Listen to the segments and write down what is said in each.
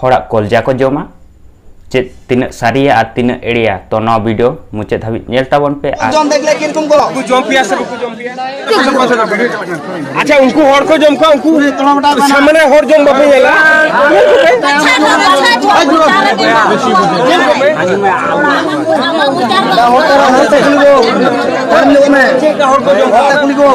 ᱦᱚᱲᱟᱜ ᱠᱚᱞᱡᱟ ᱠᱚ ᱡᱚᱢᱟ ᱪᱮᱫ ᱛᱤᱱᱟᱹᱜ ᱥᱟᱹᱨᱤᱭᱟ ᱟᱨ ᱛᱤᱱᱟᱹᱜ ᱮᱲᱮᱭᱟ ᱛᱚ ᱱᱚᱣᱟ ᱵᱷᱤᱰᱤᱭᱳ ᱢᱩᱪᱟᱹᱫ ᱫᱷᱟᱹᱵᱤᱡ ᱧᱮᱞ ᱛᱟᱵᱚᱱ ᱯᱮ ᱟᱨ ᱡᱚᱢ ᱫᱮᱠᱞᱮ ᱠᱤᱨᱠᱚᱢ ᱠᱚ ᱠᱚ ᱡᱚᱢ ᱯᱮᱭᱟ ᱥᱮ ᱵᱟᱠᱚ ᱡᱚᱢ ᱯᱮᱭᱟ ᱟᱪᱪᱷᱟ ᱩᱱᱠᱩ ᱦᱚᱲ ᱠᱚ ᱡᱚᱢ ᱠᱚᱣᱟ ᱩᱱᱠᱩ ᱥᱟᱢᱟᱱᱮ ᱦᱚᱲ ᱡᱚᱢ ᱵᱟᱯᱮ ᱧᱮᱞᱟ ᱦᱚᱲ ᱠᱚ ᱡᱚᱢ ᱠᱚᱣᱟ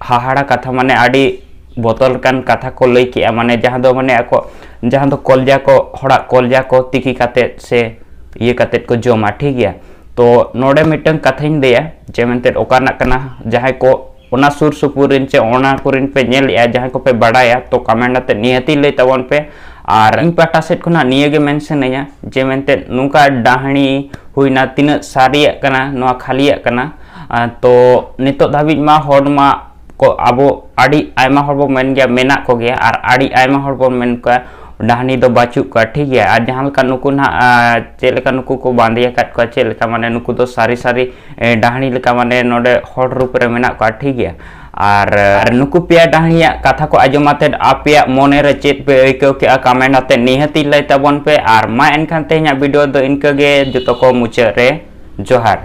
ᱦᱟᱦᱟᱲᱟ ᱠᱟᱛᱷᱟ ᱢᱟᱱᱮ ᱟᱹᱰᱤ ᱵᱚᱛᱚᱨ ᱞᱮᱠᱟᱱ ᱠᱟᱛᱷᱟ ᱠᱚ ᱞᱟᱹᱭ ᱠᱮᱜᱼᱟ ᱢᱟᱱᱮ ᱡᱟᱦᱟᱸ ᱫᱚ ᱢᱟᱱᱮ ᱟᱠᱚ ᱡᱟᱦᱟᱸ ᱫᱚ ᱠᱚᱞᱡᱟ ᱠᱚ ᱦᱚᱲᱟᱜ ᱠᱚᱞᱡᱟ ᱠᱚ ᱛᱤᱠᱤ ᱠᱟᱛᱮ ᱥᱮ ᱤᱭᱟᱹ ᱠᱟᱛᱮ ᱠᱚ ᱡᱚᱢᱟ ᱴᱷᱤᱠ ᱜᱮᱭᱟ ᱛᱚ ᱱᱚᱰᱮ ᱢᱤᱫᱴᱟᱝ ᱠᱟᱛᱷᱟᱧ ᱞᱟᱹᱭᱟ ᱡᱮ ᱢᱮᱱᱛᱮ ᱚᱠᱟ ᱨᱮᱱᱟᱜ ᱠᱟᱱᱟ ᱡᱟᱦᱟᱸᱭ ᱠᱚ ᱚᱱᱟ ᱥᱩᱨ ᱥᱩᱯᱩᱨ ᱨᱮᱱ ᱪᱮ ᱚᱱᱟ ᱠᱚᱨᱮᱱ ᱯᱮ ᱧᱮᱞᱮᱜᱼᱟ ᱡᱟᱦᱟᱸᱭ ᱠᱚᱯᱮ ᱵᱟᱰᱟᱭᱟ ᱛᱚ ᱠᱚᱢᱮᱱᱴ ᱟᱛᱮ ᱱᱤᱦᱟᱹᱛᱤ ᱞᱟᱹᱭ ᱛᱟᱵᱚᱱ ᱯᱮ ᱟᱨ ᱤᱧ ᱯᱟᱦᱴᱟ ᱥᱮᱫ ᱠᱷᱚᱱᱟᱜ ᱱᱤᱭᱟᱹ ᱜᱮ ᱢᱮᱱ ᱥᱟᱱᱟᱧᱟ ᱡᱮ ᱢᱮᱱᱛᱮ ᱱᱚᱝᱠᱟ ᱰᱟᱹᱦᱱᱤ ᱦᱩᱭᱱᱟ ᱛᱤᱱᱟᱹᱜ ᱥᱟᱹᱨᱤᱭᱟᱜ ᱠᱟᱱᱟ ᱱᱚᱣᱟ ᱠᱷᱟᱹᱞᱤᱭᱟᱜ ᱠᱟᱱᱟ ᱛᱚ ᱱᱤᱛᱚᱜ ᱫᱷᱟᱹᱵᱤᱡ ᱢᱟ ᱦᱚᱲ ᱢᱟ ᱠᱚ ᱟᱵᱚ ᱟᱹᱰᱤ ᱟᱭᱢᱟ ᱦᱚᱲ ᱵᱚ ᱢᱮᱱ ᱜᱮᱭᱟ ᱢᱮᱱᱟᱜ ᱠᱚᱜᱮᱭᱟ ᱟᱨ ᱟᱹᱰᱤ ᱟᱭᱢᱟ ᱦᱚᱲ ᱵᱚᱱ ᱢᱮᱱ ᱠᱚᱣᱟ ᱰᱟᱦᱱᱤ ᱫᱚ ᱵᱟᱹᱪᱩᱜ ᱠᱚᱣᱟ ᱴᱷᱤᱠ ᱜᱮᱭᱟ ᱟᱨ ᱡᱟᱦᱟᱸ ᱞᱮᱠᱟ ᱱᱩᱠᱩ ᱱᱟᱦᱟᱜ ᱪᱮᱫ ᱞᱮᱠᱟ ᱱᱩᱠᱩ ᱠᱚ ᱵᱟᱸᱫᱮ ᱟᱠᱟᱫ ᱠᱚᱣᱟ ᱪᱮᱫ ᱞᱮᱠᱟ ᱢᱟᱱᱮ ᱱᱩᱠᱩ ᱫᱚ ᱥᱟᱹᱨᱤ ᱥᱟᱹᱨᱤ ᱰᱟᱦᱱᱤ ᱞᱮᱠᱟ ᱢᱟᱱᱮ ᱱᱚᱰᱮ ᱦᱚᱲ ᱨᱩᱯ ᱨᱮ ᱢᱮᱱᱟᱜ ᱠᱚᱣᱟ ᱴᱷᱤᱠ ᱜᱮᱭᱟ ᱟᱨ ᱱᱩᱠᱩ ᱯᱮᱭᱟ ᱰᱟᱦᱱᱤᱭᱟᱜ ᱠᱟᱛᱷᱟ ᱠᱚ ᱟᱸᱡᱚᱢ ᱟᱛᱮᱫ ᱟᱯᱮᱭᱟᱜ ᱢᱚᱱᱮ ᱨᱮ ᱪᱮᱫ ᱯᱮ ᱟᱹᱭᱠᱟᱹᱣ ᱠᱮᱜᱼᱟ ᱠᱟᱢᱮᱱᱴ ᱟᱛᱮᱫ ᱱᱤᱦᱟᱹᱛᱤ ᱞᱟᱹᱭ ᱛᱟᱵᱚᱱ ᱯᱮ ᱟᱨ ᱢᱟ ᱮᱱᱠᱷᱟᱱ ᱛᱮᱦᱮᱧᱟᱜ ᱵᱷᱤᱰᱤᱭᱳ ᱫᱚ ᱤᱱᱠᱟᱹ ᱜᱮ ᱡᱚᱛᱚ ᱠᱚ ᱢᱩᱪᱟᱹᱫ ᱨᱮ ᱡᱚᱦᱟᱨ